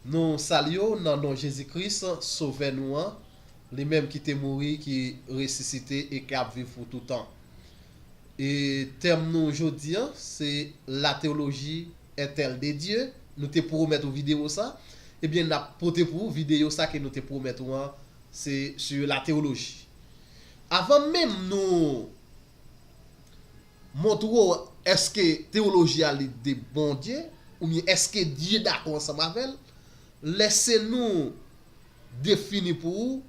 Nou salye w nan non Jezi Kris, Sovè nou an, li menm ki te mouri, ki resisite e ki ap viv pou toutan. E tèm nou jodi an se La théologie est-elle de Dieu? Nou te pwomèt ou videyo sa, ebyen n ap pote pou ou videyo sa ke nou te pwomèt ou an, se sur la théologie. Avan menm nou. Montre w èske tewoloji a li de Bondye oubyen èske Dye dakò ansanm avè l. Lè se nou defini pou ou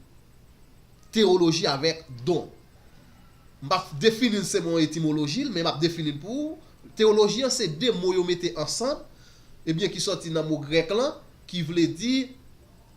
tewoloji avèk don. M pa defini l selon etimoloji l men m ap defini l pou ou. Tewoloji an se de mo yo mete ansanm ebyen ki sòti nan mo grèk lan ki vle di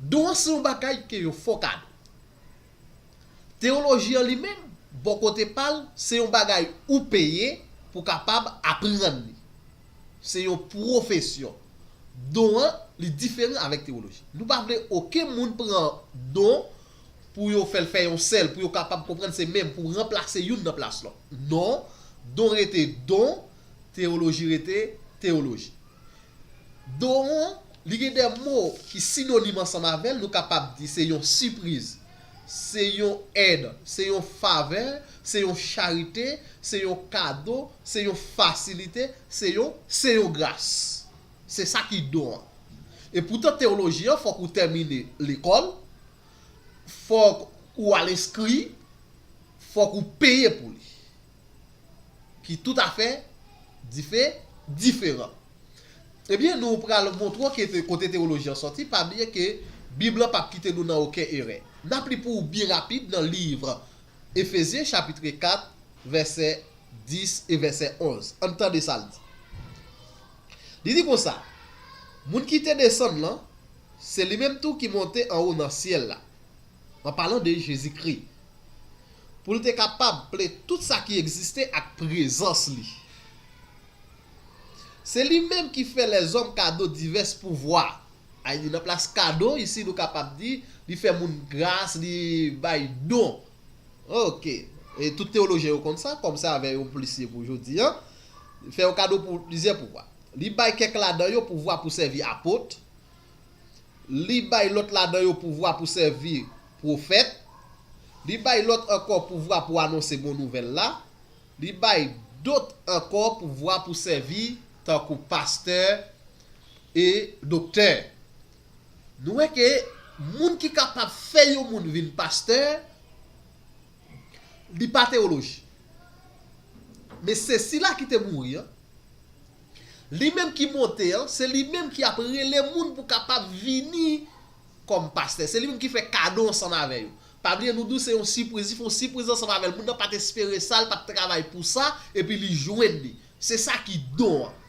Don se yon bagay ke yo fò kado. Teyoloji an li menm, bò kote pa l, se yon bagay ou peye pou w kapab aprann li. Se yon pwofesyon. Don an, li diferan avèk teyoloji. Nou pa vle oken moun pran don pou yo fè l fè yon sèl, pou yo kapab konprann se menm, pou ranplase youn nan plas lòt. Non, don rete don, teyoloji rete teyoloji. Doron, Li gen de mo ki sinonim ansanm avè l, nou kapab di se yon sipriz, se yon èd, se yon favè, se yon charite, se yon kado, se yon fasilite, se yon. Se yon gras. Se sa ki don an. E poutan tewoloji an fòk ou tèmine lekòl, fòk ou al enskri, fòk ou peye pou li. ki toutafè dife, diferan. Ebyen, nou pral montre w ke kote tewoloji an sòti, pa bliye ke Bib lan pap kite nou nan oken erè. Nap li pou ou byen rapid nan liv Efezyen chapitre 4 vèsè 10 e vèsè 11. Ann tande sa l di. Li di konsa, Moun ki te desann lan, se li menm tou ki monte anwo nan syèl la. An palan de Jezikri. Pou l te kapab ple tout sa ki egziste ak prezans li. Se li menm ki fè lèzòm kado divès pouvwa. Ayy nan plas kado isi nou kapab di li fè moun gras, li bay don. Ok. E tout tewolojyen yo konn sa, kòm sa avè yon plis ye pou jodi an. Fè yo kado pou plizyè pouvwa. Li bay kèk ladan yo pouvwa pou sèvi apot, Li bay lòt ladan yo pouvwa pou sèvi pwofèt. Li bay lòt ankò pouvwa pou anonse bon nouvèl la. Li bay dot ankò pouvwa pou sèvi tankou pastè e doktè. Nou wè ke moun ki kapab fè yon moun vin pastè, li pa tewoloji. Men se sila ki te mouri an, Li menm ki monte an, se li menm ki ap rele moun pou kapab vini kòm pastè. Se li menm ki fè kado ansanm avè yo. Pa bliye nou di w se yon sipriz, li fè yon sipriz ansanm avè l. Moun nan pa t espere sa, li pa t travay pou sa, epi li jwenn li. Se sa ki don an.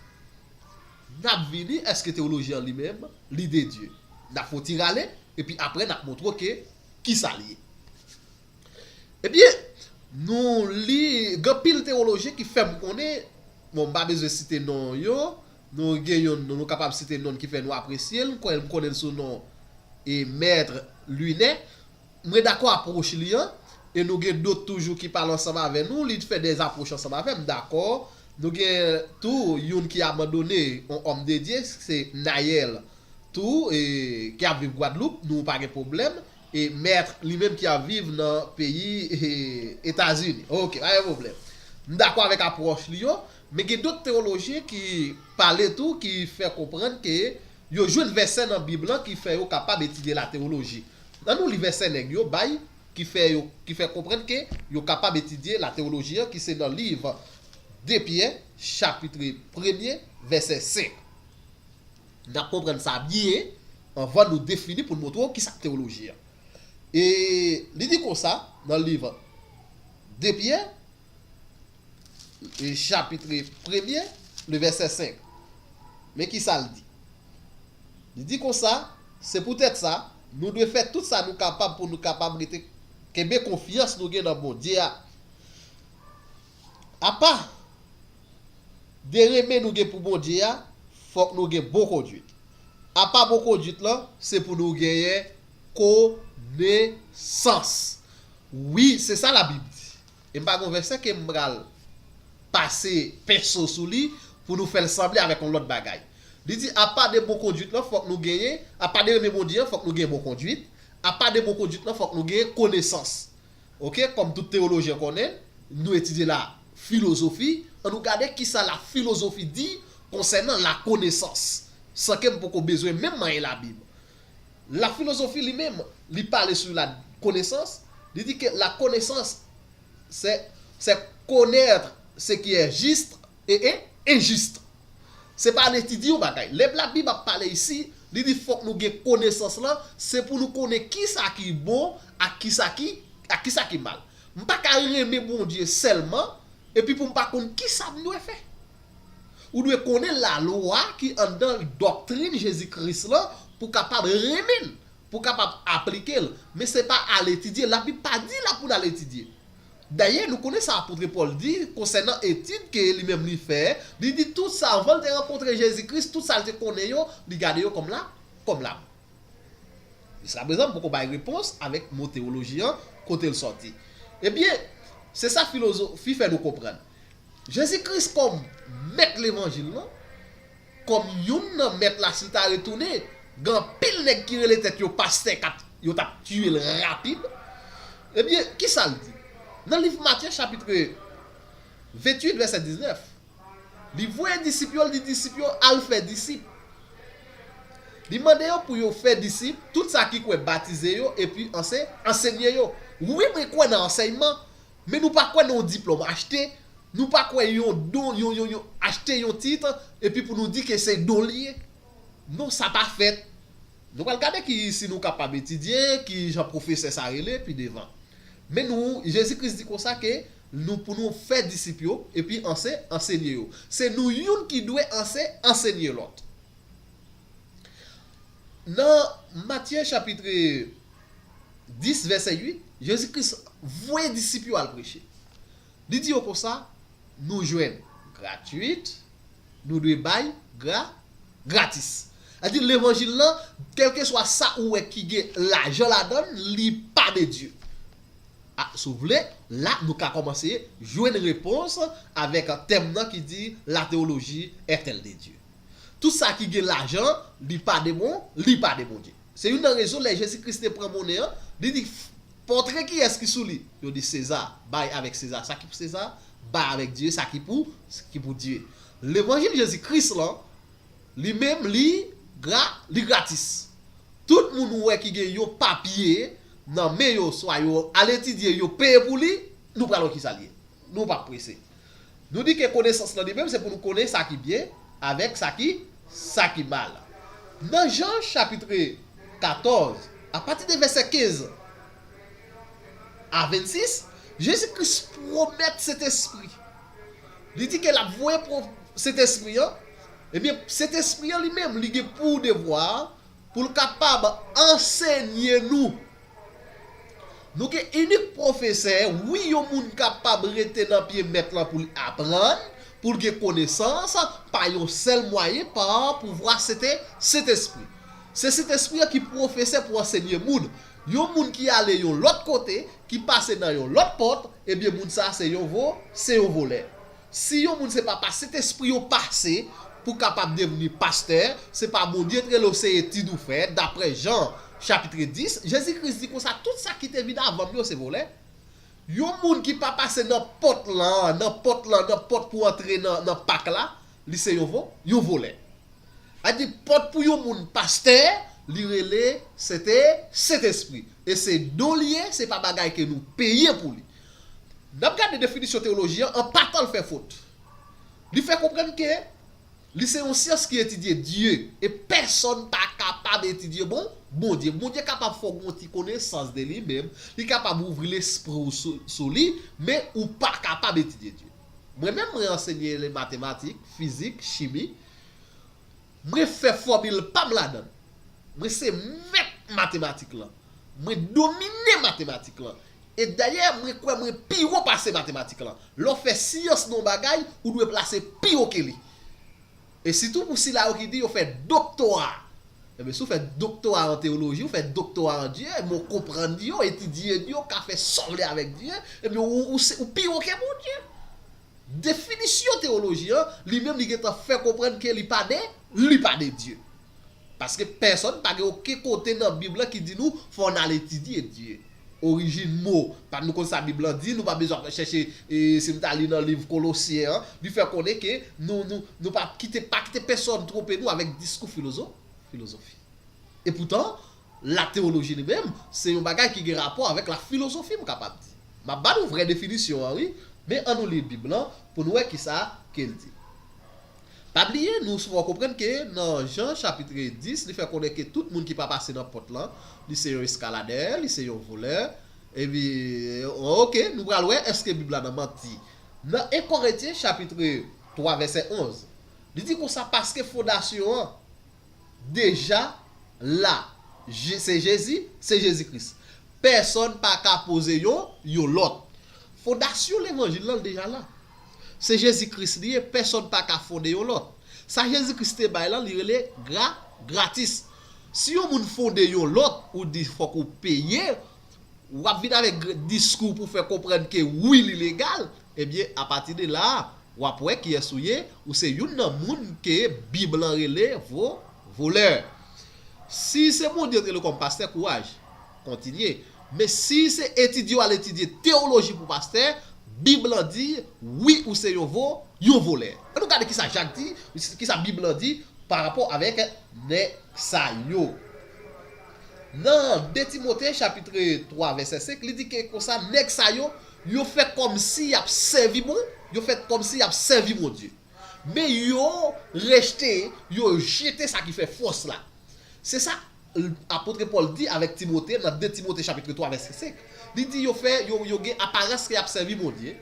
N ap vini, èske tewolojyen an li menm, li de Dye? N ap fè yon ti rale, epi apre n ap montre w ke kisa l ye. Ebyen, nou li, gen anpil tewolojyen ki fè m konnen, bon m pa bezwen site non yo, nou gen youn nou nou kapab site non l ki fè nou apresye l, m kwè m konnen l sou non e Mèt Linè. Mwen dakò apwòch li an, e nou gen dot toujou ki pale ansanm avè nou, li fè de apwòch ansanm avè m, dakò. Nou gen tou youn ki abandone, yon Òmdedye, se Nayèl tou, e ki ap viv Gwadloup, nou pa gen pwoblèm, E mèt li menm ki ap viv nan peyi Etazini. Ok, pa gen pwoblèm. M dakò avèk apwòch li yo, men gen dòt tewolojyen ki pale tou ki fè konprann ke yo jwenn vèsè nan Bib lan ki fè yo kapab etidye latewoloji. An nou li vèsè nèg yo bay ki fè yo ki fè konprann ke yo kapab etidye latewoloji an ki se nan liv 2 Pyè chapitre premye vèsè 5. N ap konprann sa byen anvan nou defini pou n montre w ki sa k tewoloji an. E li di konsa nan liv 2 Pyè, chapitre premye, le vèsè 5. Men ki sa l di. Li di konsa, Se poutèt sa, nou dwe fè tout sa nou kapab pou nou kapab rete kenbe konfyans nou gen nan Bondye a. Apa de renmen nou gen pou Bondye a, fòk nou gen bon konduit. Apa bon konduit lan, se pou nou genyen konesans. Wi, se sa Labib di. E m pa gen yon vèsè ke m pral pase penso sou li pou nou fè l sanble avèk yon lòt bagay. Li di, apa de bon konduit lan, fòk nou genyen, apa de renmen Bondye an, fòk nou gen bon konduit, apa de bon konduit lan, fòk nou genyen konesans. Ok, kòm tout teyolojyen konnen, nou etidye la filozofi, an nou gade ki sa la filozofi di konsènan la konesans, san ke m poko bezwen menm manyen la Bib. La filozofi li menm, li pale sou la konesans, li di ke la konesans, c'est, c'est connaitre ce qui est juste, E e injuste. Se pa al etidye yon bagay. Lè Blabib ap pale isi, li di fòk nou gen konesans lan, se pou nou konnen kisa ki bon ak kisa ki ak kisa ki mal. M pa ka renmen Bondye sèlman epi pou m pa konn kisa m dwe fè. Ou dwe konnen lalwa ki anndan doktrin Jezi Kris lan pou kapab renmen l, pou kapab aplike l. Men se pa al etidye. Labib pa di la pou n al etidye. Dayè, nou konnen sa apotre Pòl di konsènan etid ke li menm li fè, li di tout sa anvan l te rankontre Jezi Kris, tout sa l te konnen yo, li gade yo kòm la, kòm lam. Jiskaprezan m poko bay repons avèk mo tewoloji an, kote l sòti. Ebyen, se sa filozofi fè nou konprann. Jezi Kris kòm mèt levanjil lan, Kòm youn nan mèt la sil ta retounen gen anpil nèg ki rele tèt yo pastè kap yo tap tiyel rapid ebyen kisal di nan liv Matye chapitre 28 vèsè 19 li voye disip yo li di disip yo al fè disip li mande yo pou yo fè disip tout sa ki kwè batize yo epi anse ansenye yo wi mwen kwè nan ansèyman Men nou pa kwè nan yon diplòm achte, nou pa kwè yon don yon yon yon achte yon tit epi pou nou di ke se don li ye. Non sa pa fèt. Nou pral gade ki si nou kapab etidye, ki jan pwofesè sa rele pi devan. Men nou Jezi Kris di konsa ke nou pou nou fè disip yo epi anse ansenye yo. Se nou youn ki dwe anse ansenye lòt. Nan Matye chapitre 10 vèsè 8, Jezi Kris voye disip yo al preche. Li di yo konsa, Nou jwenn gratuit, nou dwe bay gra, gratis. Sa di levanjil lan, kèlkeswa sa ou wè ki gen lajan ladan l, li pa de Dye. A, si w vle, la nou ka kòmanse jwenn repons avèk tèm nan ki di La théologie est-elle de Dieu? Tout sa ki gen lajan, li pa de bon, li pa de Bondye. Se youn nan rezon lè Jezi Kris te pran monnen an, li di, Pòtre kiyès ki sou li? Yo di, Seza. Bay avèk Seza sa ki pou Seza, bay avèk Dye sa ki pou, ki pou Dye. Levanjil Jezi Kris lan, li menm, li gra, li gratis. Tout moun ou wè ki gen yon papye nan men yo, swa yo al etidye, yo peye pou li, nou pral wè ki sa l ye. Nou pap prese. Nou di ke konesans lan li menm se pou nou konnen sa ki byen avèk sa ki sa ki mal. Nan Jan chapitre 14 a pati de vèsè 15 a 26, Jezi Kris pwomèt Sentespri. Li di ke l ap voye Sentespri an, ebyen Sentespri an li menm li gen pou devwa pou l kapab ansenye nou. Nou gen inik pwofesè, wi yon moun kapab rete nan pye mèt lan pou l aprann, pou l gen konesans, pa yon sèl mwayen, pa pouvwa sete Sentespri. Se Sentespri an ki pwofesè pou ansenye moun. Yon moun ki ale yon lòt kote, ki pase nan yon lòt pòt, ebyen moun sa a se yon vo, se yon volè. Si yon moun se pa pa sentespri yo pase pou kapab devni pastè, se pa Bondye t rele w se etid ou fè, daprè Jan chapitre 10, Jezi Kris di konsa tout sa ki te vin avan m yo se volè. Yon moun ki pa pase nan pòt lan, nan pòt lan, nan pòt pou antre nan nan pak la, li se yon vo, yon volè. A di pòt pou yon moun pastè, li rele sente, sentespri. E se don li ye, se pa bagay ke nou peye pou li. N ap gade definisyon teyoloji an, an pa tan l fè fot. Li fè konprann ke li se yon syans ki etidye Dye, e pèsòn pa kapab etidye bon, Bondye. Bondye kapab fè w gen yon ti konesans de li menm, li kapab ouvri lespri w sou, sou li, men ou pa kapab etidye Dye. Mwen menm, mwen ansenye le matematik, fizik, chimi. Mwen fè fòmil pa m ladan l. Mwen se mèt matematik lan. Mwen domine matematik lan. E dayè mwen kwè mwen pi wo pase matematik lan. Lè w fè syans nan yon bagay, ou dwe plase pi wo ke li. E sitou pou sila yo ki di yo fè doktora. Enben, si w fè doktora an teyoloji, ou fè doktora an Dye, enben w konprann Dye, w etidye Dye, w ka fè sa w vle avèk Dye, enben w ou se ou pi wo ke Bondye. Definisyon teyoloji an, li menm li gen tan fè konprann ke li pa de, li pa de Dye. Paske pèsòn pa gen oken kote nan Bib lan ki di nou fò n al etidye Dye, orijin mo, pa nou konn sa Bib lan di, nou pa bezwen ap chèche e si n ta li nan liv Kolosyen an, li fè konnen ke nou nou nou pa kite pa kite pèsòn twonpe nou avèk diskou filozo filozofi. Epoutan, latewoloji li menm se yon bagay ki gen rapò avèk lafilozofi m kapab di. M ap ba nou vrè definisyon an wi, men an nou li Bib lan pou n wè kisa ke l di. Pa bliye, nou souvan konprann ke nan Jan chapitre 10 li fè konnen ke tout moun ki pa pase nan pòt lan, li se yon eskaladè, li se yon volè, epi ok, nou pral wè èske Bib la nan manti. Nan 1 Korentyen chapitre 3 vèsè 11, li di konsa paske fondasyon an. deja la se Jezi, se Jezi Kris. Pèsòn pa ka poze yon, yon lòt. Fondasyon levanjil lan deja la. Se Jezi Kris li ye, pèsòn pa ka fonde yon lòt. Sa Jezi Kris te bay lan li rele gra, gratis. Si yon moun fonde yon lòt, ou di fòk ou peye, wap vin avèk diskou pou fè konprann ke wi li legal, ebyen apati de la, Wap wè kiyès ou ye, ou se youn nan moun ke bib lan rele vo, voleur. Si se Bondye ou t rele w kòm pastè kouraj, kontinye, men si se etidye w al etidye teoloji pou pastè, bib lan di wi ou se yon vo, yon volè. An nou gade kisa Jak di, kisa bib lan di pa rapò avèk nèg sa yo. Nan 2 Timote chapitre 3 vèsè 5 li di ke konsa nèg sa yo Yo fè kòmsi y ap sèvi bon, yo fè kòmsi y ap sèvi Bondye. Men yo rejte, yo jete sa ki fè fòs la. Se sa l apôtre Pòl di avèk Timote nan 2 Timote chapitre 3 vèsè 5. Li di yo fè, yo yo gen aparans ke y ap sèvi Bondye.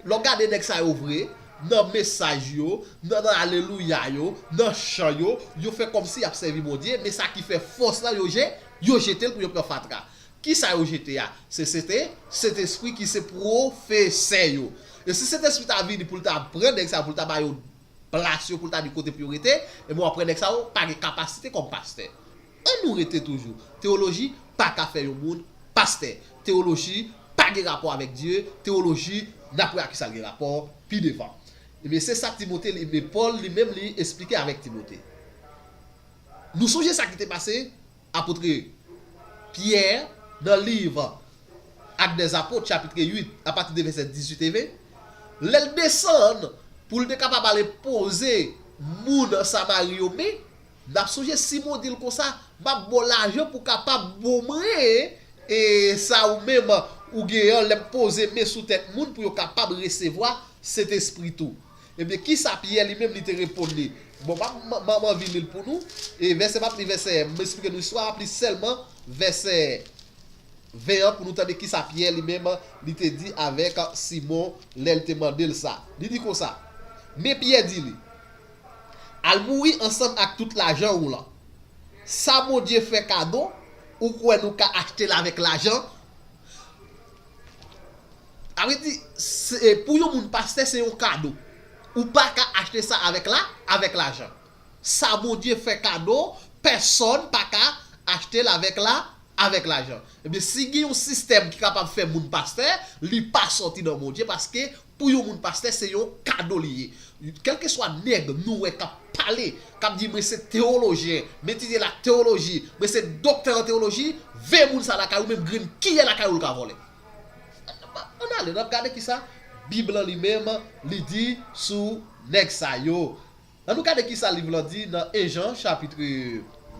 Lè w gade nèg sa yo vre, nan mesaj yo, nan nan alelouya yo, nan chan yo, yo fè kòmsi y ap sèvi Bondye, men sa ki fè fòs la yo je, yo jete l pou yo pran fatra. Ki sa yo jete a? Se sete Sentespri ki se pwofesè yo. E si Sentespri ta vini pou l ta pran nèg sa yo, pou l ta ba yo plas yo, pou l ta di kote pou yo rete, enben w apre nèg sa yo pa gen kapasite kòm pastè. Annou rete toujou. Tewoloji pa ka fè yon moun pastè. Tewoloji pa gen rapò avèk Dye. Tewoloji, n ap wè ak ki sa l gen rapò pi devan. Ebyen, se sa Timote li, men Pòl li menm li esplike avèk Timote. Nou sonje sa ki te pase Apotre Pyè, nan liv Actes des Apôtres chapitre 8 a pati de vèsè 18 ev, lè l desann pou l te kapab al enpoze moun Samari yo men, n ap sonje Simon di l konsa, M ap ba w lajan pou w kapab ba w mwen e sa ou menm ou gen an lè m poze men sou tèt moun pou yo kapab resevwa Sentespri tou. Ebyen, ki sa Pyè li menm li te reponn li? Bon, m ap anvi li l pou nou. E vèsè, m ap li vèsè, m esplike nou istwa a, m ap li sèlman vèsè 20 an pou nou tande ki sa Pyè li menm li te di avèk Simon lè l te mande l sa. Li di konsa, Men Pyè di li, Al mouri ansanm ak tout lajan ou lan. Sa Bondye fè kado, ou kwè nou ka achte l avèk lajan? Sa vle di pou yon moun pastè se yon kado. Ou pa ka achte sa avèk la avèk lajan. Sa Bondye fè kado pèsòn pa ka achte l avèk la avèk lajan. Ebyen si gen yon sistèm ki kapab fè moun pastè li pa sòti nan Bondye paske Pou yon moun pastè se yon kado li ye. Kèlkeswa nèg nou wè k ap pale, k ap di mwen se tewolojyen, m etidye latewoloji, mwen se doktè an tewoloji, veye moun sa a lakay ou menm grenn kiyè lakay ou l ka vòlè. Ann ale, n ap gade kisa Bib lan li menm li di sou nèg sa yo. An nou gade ki sa liv lan di nan 1 Jan chapitre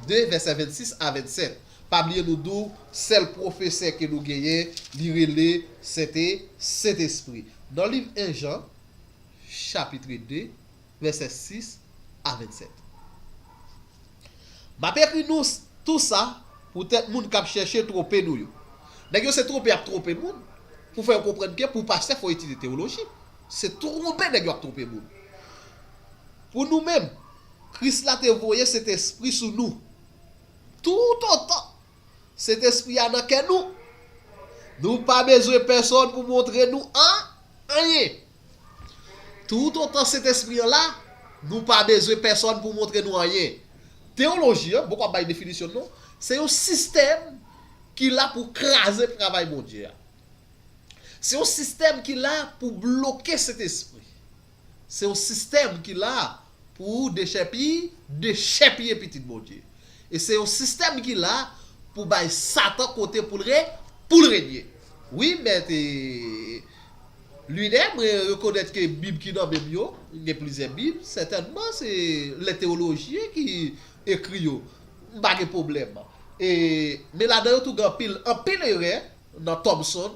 2 vèsè 26 a 27. Pa bliye nou di w sèl pwofesè ke nou genyen li rele sente Sentespri. Nan liv 1 Jan chapitre 2 vèsè 6 a 27. M ap ekri nou tou sa poutèt moun k ap chèche twonpe nou yo. Nèg yo se twonpe y ap twonpe moun pou fè yo konprann ke pou pastè fò etidye tewoloji. Se twonpe nèg yo ap twonpe moun. Pou nou menm, Kris la te voye Sentespri sou nou. Toutotan Sentespri a nan kè nou, nou pa bezwen pèsòn pou montre nou anyen. Toutotan Sentespri an la, nou pa bezwen pèsòn pou montre nou anyen. Teyoloji an, boko ap bay definisyon l non, se yon sistèm ki la pou kraze travay Bondye a. Se yon sistèm ki la pou bloke Sentespri. Se yon sistèm ki la pou dechèpiye, dechèpiye pitit Bondye. E se yon sistèm ki la pou bay Satan kote pou l re, pou l renye. Wi mèt e Lunè, mwen rekonèt ke bib ki nan men m yo, gen plizyè bib, sètènman se lè tewolojyen ki ekri yo, m pa gen pwoblèm. E men ladan yo tou gen anpil, anpil erè. nan Thompson,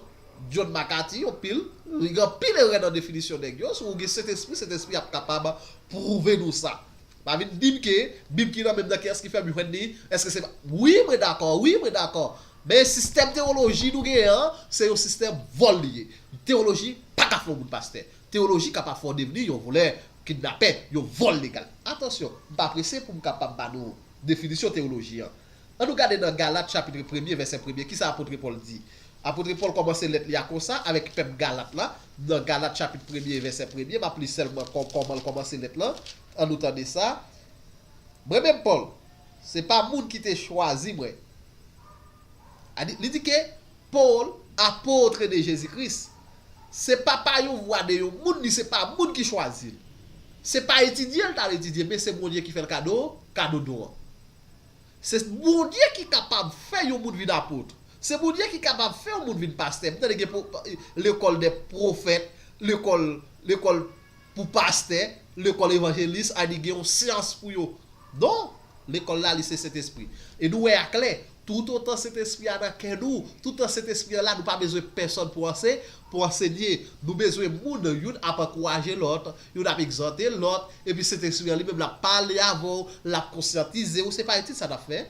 John McCarthy yon pil, li gen anpil erè nan definisyon nèg yo, si ou gen sentespri, sentespri ap kapab pwouve nou sa. Pa vin dim ke bib ki nan menm nan kiyès ki fèm jwenn li, eske se pa, wi mwen dakò, wi mwen dakò, men sistèm tewoloji nou genyen an, se yon sistèm vòl li ye, tewoloji pa ka fè yon moun pastè, tewoloji ka pa fè w devni yon volè, kidnapè, yon vòl legal. Atansyon, m pa prese pou m kapab ba nou definisyon tewoloji an. Annou gade nan Galat chapitre premye vèsè premye ki sa apotre Pòl di. Apotre Pòl kòmanse lèt li a konsa avèk pèp Galat la, nan Galat chapit premye vèsè premye, m ap li sèlman kò kòman l kòmanse lèt lan, annou tande sa, Mwen menm Pòl, se pa moun ki te chwazi mwen, a di, li di ke, Pòl, apotre de Jezi Kris, se pa pa yon vwa de yon moun, ni se pa moun ki chwazi l, se pa etidye l t al etidye, men se Bondye ki fè l kado, kado don an. Se Bondye ki kapab fè yon moun vin apôtre. Se Bondye ki kapab fè yon moun vin pastè. M tande gen lekòl dè profèt, lekòl lekòl pou pastè, lekòl evanjelis a di gen yon syans pou yo. Non! Lekòl la li se Sentespri. E nou wè a klè, toutotan Sentespri a nan kè nou, toutotan Sentespri an la nou pa bezwen pèsòn pou anse pou ansenye. Nou bezwen moun youn ap ankouraje lòt, Youn ap egzòte lòt, epi Sentespri an li menm l ap pale avè w, l ap konsyantize w. Se pa etid sa n ap fè,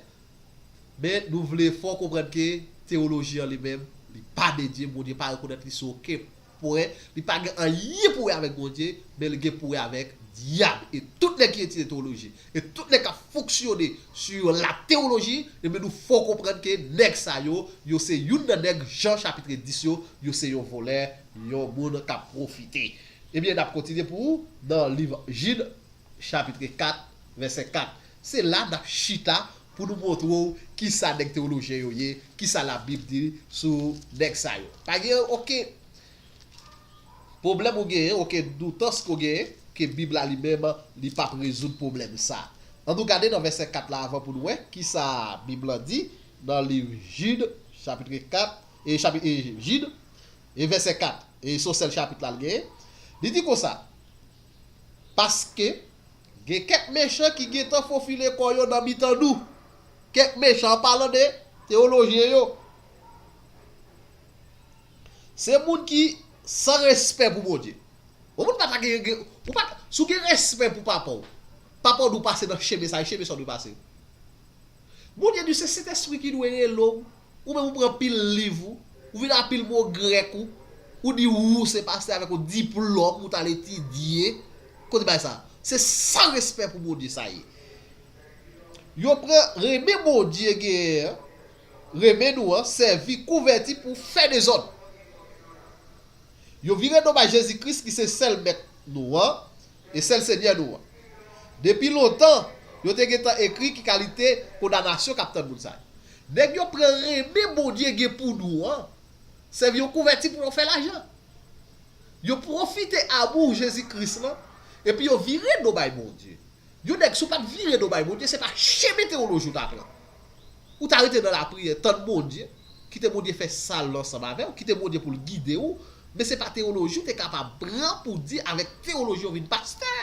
men nou vle fè w konprann ke tewoloji an li menm, li pa dedye, Bondye pa rekonèt li sou oken pwen, li pa gen anyen pou wè avèk Bondye, men li gen pou wè avèk dyab. E tout nèg ki etidye tewoloji, e tout nèg k ap fonksyone sou latewoloji, ebyen nou fè w konprann ke nèg sa yo, yo se youn nan nèg Jan chapitre 10 yo, yo se yon vòlè, yon moun k ap pwofite. Ebyen, n ap kontinye pou ou nan liv Jid, chapitre 4, vèsè 4. Se la n ap chita pou nou montre w ki sa nèg tewolojyen yo ye, ki sa Labib di sou nèg sa yo. Pa gen okenn pwoblèm ou genyen, okenn doutans ke w genyen ke Bib la li menm li p ap rezoud pwoblèm sa a. An nou gade nan vèsè 4 la avan pou nou wè ki sa Bib la di nan liv Jid, chapitre 4, e, chapitre, e, Jid, E vèsè 4, e se yon sèl chapit la l genyen, li di konsa, Paske, gen kèk mechan ki gentan fofile kò yo nan mitan nou. Kèk mechan, an palan de teyolojyen yo, se moun ki san respè pou Bondye. Yon moun pa ta gen, ou pa ta, si w gen respè pou papa w, papa w dwe pase nan chemen sa yo, chemen sa w dwe pase yo. Bondye di se Sentespri ki dwe rele w Ou menm ou pran pil liv ou, ou vin a pil mo grèk ou, ou di wou se pastè avèk yon diplòm ou tal etidye, kote bagay sa? Se san respè pou Bondye sa ye. Yo pran renmen Bondye genyen an, renmen nou an sèvi kouvèti pou fè dezòd. Yo vire do bay Jezi Kris ki se sèl mèt nou an, E sèl Senyè nou an. Depi lontan, yo te gentan ekri ki kalite kondanasyon k ap tann moun sa yo. Nèg yo pran renmen Bondye gen pou nou an sèvi yon kouvèti pou yo fè lajan. Yo pwofite amou Jezi Kris lan epi yo vire do bay Bondye. Yon nèg si w pa t vire do bay Bondye se pa chemen tewoloji w t ap pran. Ou ta rete nan lapriyè, tann Bondye, kite Bondye fè sa l ansanm avè w, kite Bondye pou l gide ou, men se pa tewoloji w te kapab pran pou di avèk tewoloji w vin pastè.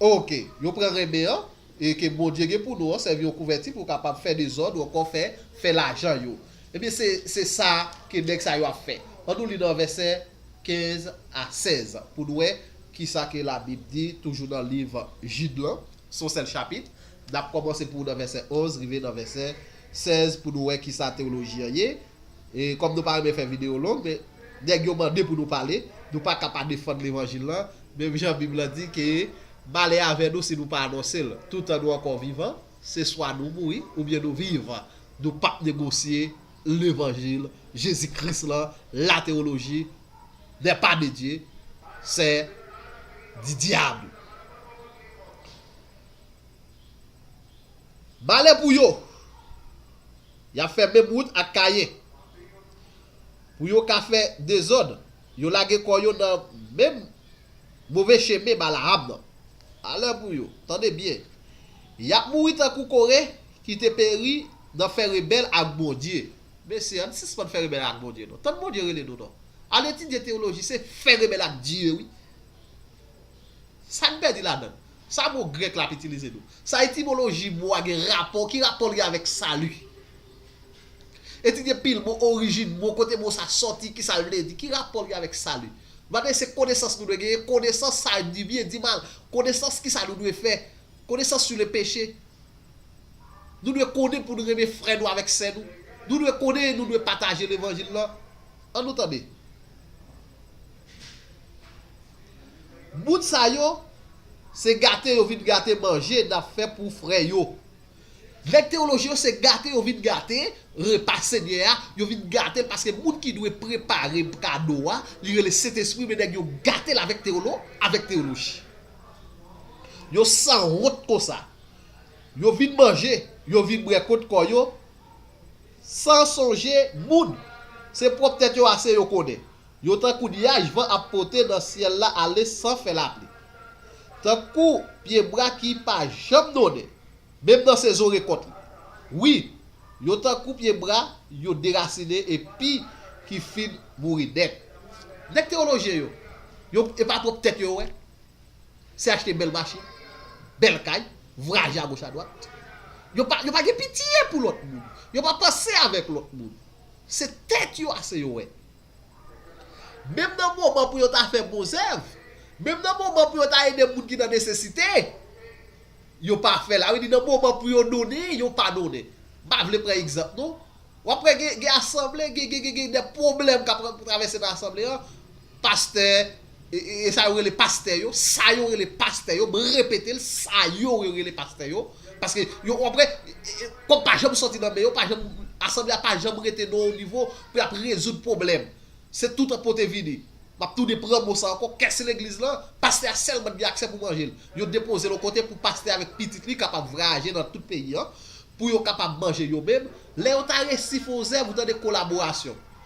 Ok, yo pran renmen an e ke Bondye gen pou nou an sèvi yon kouvèti pou kapab fè dezòd ou ankò fè fè lajan yo. Ebyen se se sa ke nèg sa yo ap fè. An nou li nan vèsè 15 a 16 pou nou wè kisa ke labib di toujou nan liv Jid lan. S on sèl chapit. N ap kòmanse pou nan vèsè 11 rive nan vèsè 16 pou nou wè ki sa tewoloji an ye. E kòm nou pa renmen fè videyo long, men nèg yo mande pou nou pale, nou pa ka pa defann levanjil lan, menm jan Bib lan di ke malè avè nou si nou pa anonse l. Toutan nou ankò vivan, se swa nou mouri oubyen nou viv, nou pap negosye. Levanjil Jezi Kris la, lateoloji, nè pa de Dye, sè di dyab. Malè pou yo! Y ap fè menm wout ak Kayen. Pou yo ka fè dezòd, yo lage kò yo nan menm move chemen Balaam nan. Malè pou yo! Tande byen! Y ap mouri tankou kore. Ki te peri nan fè rebèl ak Bondye. Mesye, ann sispann fè rebèl ak Bondye non. Tann Bondye rele nou non. Al etidye teyoloji se fè rebèl ak Dye wi. Sa n pèdi ladan l? Sa mo grèk la ap itilize nou? Sa etimoloji mo a gen rapò? Ki rapò l gen avèk sali? Etidye pil mo, orijin mo, kote mo sa sòti, ki sa l vle di? Ki rapò l gen avèk sali? M pa mande se konesans nou dwe genyen, konesans sa di byen, di mal, konesans ki sa nou dwe fè, konesans sou le peche. Nou dwe konnen pou n renmen frè nou avèk sè nou. Nou dwe konnen e nou dwe pataje levanjil lan. An nou tande. Moun sa yo, se gate yo vin gate manje n ap fè pou frè yo. Nèg tewoloji yo se gate yo vin gate repa Senyè a, yo vin gate l paske moun ki dwe prepare kado a, li rele Sentespri men nèg yo gate l avèk tewolo, avèk tewoloji. Yo sanwont konsa. Yo vin manje, yo vin bwè kont kò yo san sonje moun. Se pwòp tèt yo ase yo konnen. Yo tankou nyaj van ap pote nan syèl la ale san fè lapli. Tankou pyebwa ki pa janm donnen. Menm nan sezon rekòt li. Wi, yo tankou pye bwa yo derasine epi ki fin mouri nèt. Nèg tewolojyen yo, yo e pa pwòp tèt yo wè. Se achte bèl machin, bèl kay, vwayaje agoch adwat. Yo pa yo pa gen pitye pou lòt moun. Yo pa panse avèk lòt moun. Se tèt yo ase yo wè. Menm nan moman pou yo ta fè bon zèv, menm nan moman pou yo ta ede moun ki nan nesesite, yo pa fè l. A vle di nan moman pou yo donnen, yo pa donnen. M pa vle pran egzanp non. W ap wè gen asanble, gen de pwoblèm k ap travèse nan asanble an, pastè, E sa yo rele pastè yo, sa yo rele pastè yo, mwen repete l, sa yo yo rele pastè yo, paske yo konpre, kòb pa janm sòti nan men yo, pa janm, asanble a pa janm rete nan yon nivo pou y ap rezoud pwoblèm. Se toutan pote vini. M ap tounen pran mo sa ankò, kès legliz lan, pastè a sèlman t gen aksè pou manje l. Yo depoze l yon kote pou pastè avèk pitit li kapab vwayaje nan tout peyi an, pou yo kapab manje yo menm, lè yo ta resi fè yon zèv ou tande kolaborasyon.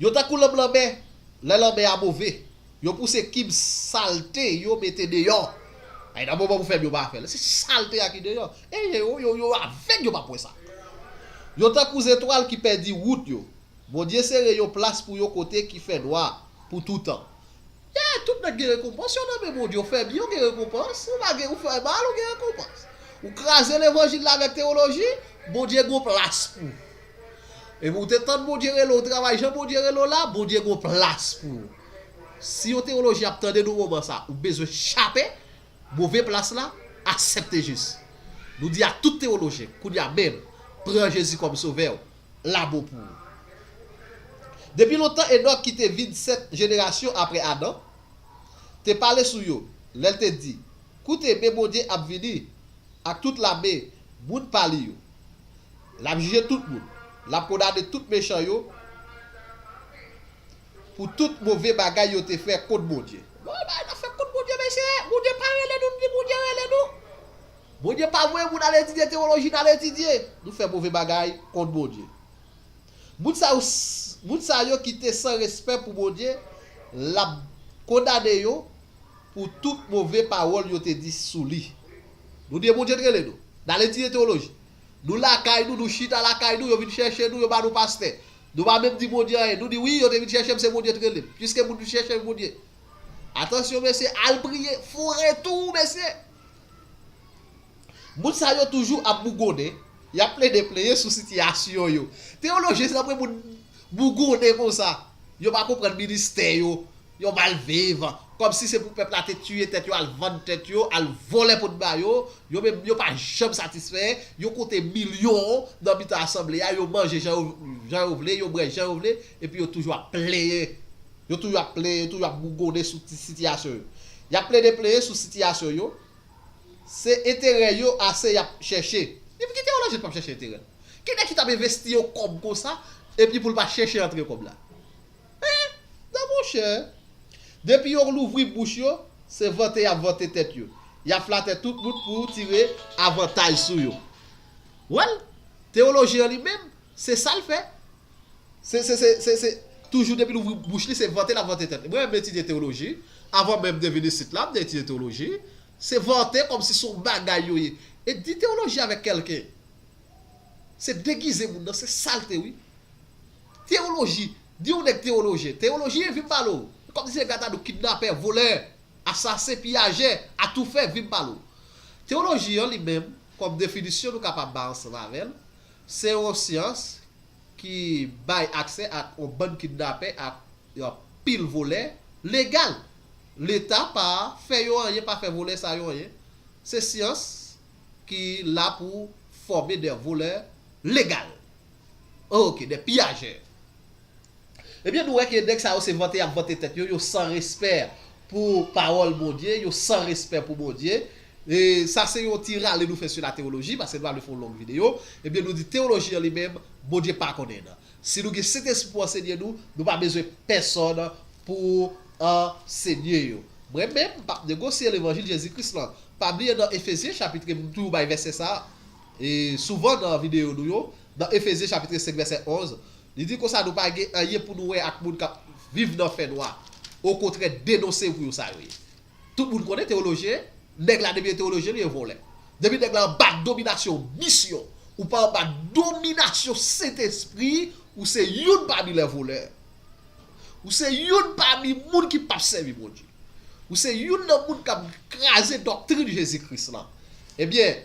Yo tankou lanm lanmè, lè lanmè a move. Yo pouse kib salte yo mete deyò. Ay nan moman pou fè m yo pa fè l. Se salte a ki deyò. E ye yo, yo yo avèg yo pap wè sa. Yo tankou zetwal ki pèdi wout yo. Bondye sere yon plas pou yo kote ki fè nwa pou toutan. E tout nèg gen rekonpans yo nan men Bondye. Ou fè byen ou gen rekonpans, ou pa gen ou fè mal ou gen rekonpans. Ou kraze levanjil la avèk tewoloji, Bondye gen yon plas pou ou. Epi ou te tand Bondye rele w travay jan Bondye rele w la, Bondye gen yon plas pou ou. Si yon tewolojyen ap tande nou moman sa, ou bezwen chape move plas la, asepte Jezi. Nou di a tout tewolojyen, kounye a menm, pran Jezi kòm sovè w, la bon pou ou. Depi lontan Enòk ki te vin 7 jenerasyon apre Adan, te pale sou yo, lè l te di, Koute, men Bondye ap vini ak tout lame moun pa li yo. L ap jije tout moun. L ap kondane tout mechan yo pou tout move bagay yo te fè kont Bondye. Gade yon bagay n ap fè kont Bondye, mesye! Bondye pa rele nou, nou di Bondye rele nou. Bondye pa voye moun al etidye tewoloji n al etidye. Nou fè move bagay kont Bondye. Moun sa yo, moun sa yo ki te san respè pou Bondye, l ap kondane yo. pou tout move pawòl yo te di sou li. Nou di e Bondye t rele nou. Nal etidye teoloji. Nou lakay nou, nou chita lakay nou, yo vin chèche nou, yo ba nou pastè. Nou pa menm di Bondye anyen. Nou di wi, yo te vin chèche m, se Bondye t rele m. Piske moun vin chèche Bondye. Atansyon mesye, al priye, foure tou ou mesye! Moun sa yo toujou ap bougonnen, yap plede plenyen sou sitiyasyon yo. Teoloji se tanpri moun bougonnen konsa. Yo pa konprann ministè yo, Yon bal viv. Komsi se pou pèp la te tiye tèt yo al vann tèt yo al volè poun ba yo, yo menm yo pa janm satisfè, yo konte milyon nan mitan asanble a yo manje jan yo jan yo vle yo brè jan yo vle epi yo toujou ap plenyen yo toujou ap plenyen yo toujou ap bougonnen sou ti sitiyasyon yo yap plede plenyen sou sitiyasyon yo se enterè yo ase yap chèche epi ki teyolojyen ki pap chèche enterèl ki nèg ki tap envesti yon kòb konsa epi poul pa chèche antre kòb la. Hein! Non monchè! Depi yo louvri bouch yo, se vante y ap vante tèt yo. Y ap flatè tout moun pou tire avantaj sou yo. Wèl, tewoloji an li menm, se sa l fè. Se, se, se, se, se, toujou depi l ouvri bouch li, se vante l ap vante tèt li. Mwen menm etidye tewoloji, avan menm de vin isit la, m te etidye tewoloji. Se vante kòmsi se yon bagay yo ye. E di tewoloji avèk kèlken, se degize moun nan, se salte wi. Teyoloji, di yon nèg teyolojyen. Teyolojyen, vin m pale w. Ou kòmsi se gatadou, kidnapè, volè, asasen, piyajè, atoufè, vin m pale w. Teyoloji an li menm, kòm definisyon nou kapab bay ansanm avè l, se yon syans ki bay aksè ak yon bann kidnapè ak yon pil volè legal. Leta pa fè yo anyen, pa fè volè sa yo anyen. Se syans ki la pou fòme de volè legal. Ok des pillageurs. Ebyen nou wè ke nèg sa yo se vante yap vante tèt yo, yo san respè pou pawòl Bondye, yo san respè pou Bondye. E sa se yon ti rale nou fè sou la tewoloji, paske nou pa vle fè yon long video. Ebyen nou di tewoloji an li menm, Bondye pa konnen nan. Si nou gen Sentespri pou ansenye nou, nou pa bezwen pèsòn pou ansenye yo. Mwen menm, m pap negosye levanjil Jezi Kris lan. Pa bliye nan Efezyen chapitre, m toujou bay vèsè sa a. E souvan nan videyo nou yo, nan Efezyen chapitre 5 vèsè 11, li di konsa nou pa gen anyen pou nou wè ak moun k ap viv nan fènwa, okontrè denonse pou yo sa yo ye. Tout moun konnen tewolojyen, nèg la depi e tewolojyen li e vòlè. Depi nèg la anba dominasyon misyon, ou pa anba dominasyon Sentespri, ou se youn pami lè volè. Ou se youn pami moun ki p ap sèvi Bondye. Ou se youn nan moun k ap kraze doktrin Jezi Kris lan. Ebyen,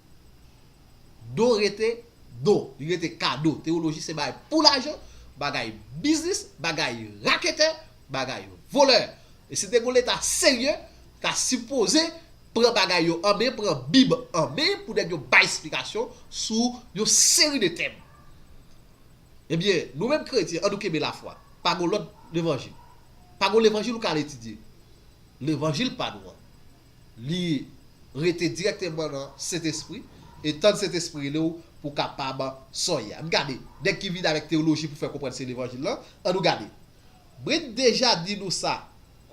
Do rete Do, li rete kado. Tewoloji se bagay pou lajan, bagay biznis, bagay raketè, bagay volè. E si te gon leta serye, ta sipoze pran bagay yo an men, pran bib an men pou nèg yo bay esplikasyon sou yon seri de tèm. Ebyen, nou menm kretyen an nou kenbe lafwa. Pa gon lòt levanjil. Pa gon levanjil ou ka al etidye. Levanjil pa nou an. Li rete dirèkteman nan Sentespri, e tann Sentespri rele w pou w kapab sonye. Ann gade, nèg ki vin avèk teyoloji pou fè konprann se Levanjil lan, an nou gade. Brent deja di nou sa,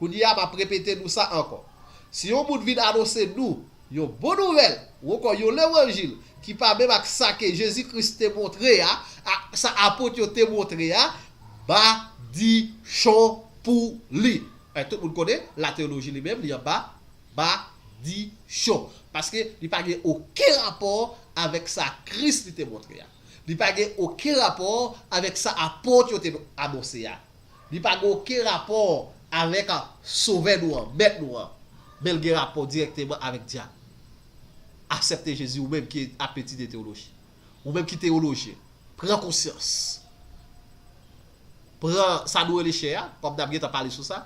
kounye a m ap repete nou sa ankò. Si yon moun vin anonse nou yon bon nouvèl, ou ankò yon Levanjil, ki pa menm ak sa ke Jezi Kris te montre a, ak sa Apot yo te montre a, madichon pou li. Paske tout moun konnen lateyoloji li menm li anba madichon. Paske li pa gen oken rapò avèk sa Kris li te montre a. Li pa gen oken rapò avèk sa apot yo te anonse a. Li pa gen oken rapò avèk Sovè nou an, Mèt nou an. Men l gen rapò dirèkteman avèk dyab. Asèpte Jezi ou menm ki apeti de teyoloji. Ou menm ki teyolojyen, pran konsyans. Pran sa nou rele chè a, kòm n ap gentan pale sou sa,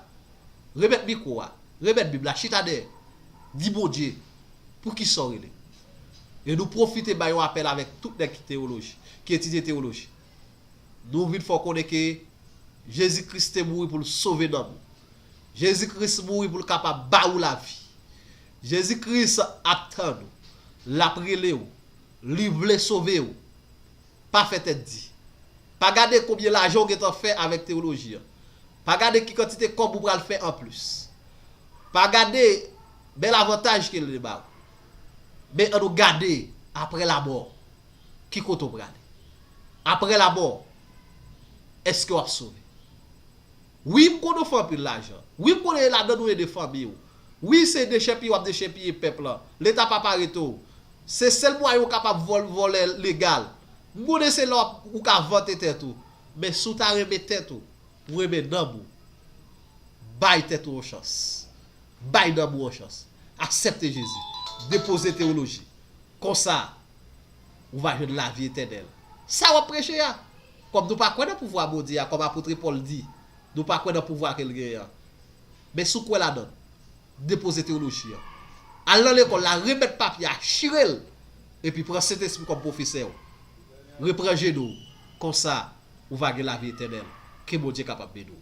remèt mikwo a, remèt Bib la, chita dèyè, di Bondye pou ki sa w rele. E nou pwofite bay yon apèl avèk tout nèg ki teyoloj, ki etidye teyoloji. Nou vin fè w konnen ke Jezi Kris te mouri pou l sove nanm ou. Jezi Kris mouri pou l kapab ba ou lavi. Jezi Kris ap tann ou, l ap rele ou, Li vle sove ou. Pa fè tèt di. Pa gade konbyen lajan ou gentan fè avèk tewoloji an. Pa gade ki kantite kòb ou pral fè anplis. Pa gade bèl avantaj ke li ba ou. Men annou gade apre lamò. Ki kote ou prale? Apre lamò, èske w ap sove? Wi m konnen w fè anpil lajan. Wi m konnen e ladann ou ede fanmi w. Wi se dechèpiye w ap dechèpiye pèp lan. Leta p ap arete w. Se sèl mwayen ou kapab vòlè legal. M konnen se la ou ka vante tèt ou. Men si w ta renmen tèt ou, ou renmen nanm ou, bay tèt ou yon chans. Bay nanm ou yon chans. Aksepte Jezi. Depoze teyoloji. Konsa, ou va jwenn lavi etènèl. Sa w ap preche a? Kòm nou pa kwè nan pouvwa Bondye a, kòm apotre Pòl di, nou pa kwè nan pouvwa ke l genyen an. Men si w kwè ladan l, depoze tewoloji an. Al nan lekòl la, remèt papye a, chire l, epi pran Sentespri kòm pwofesè w. Repran jenou w. Konsa, ou va gen lavi etènèl. Ke Bondye kapab beni w.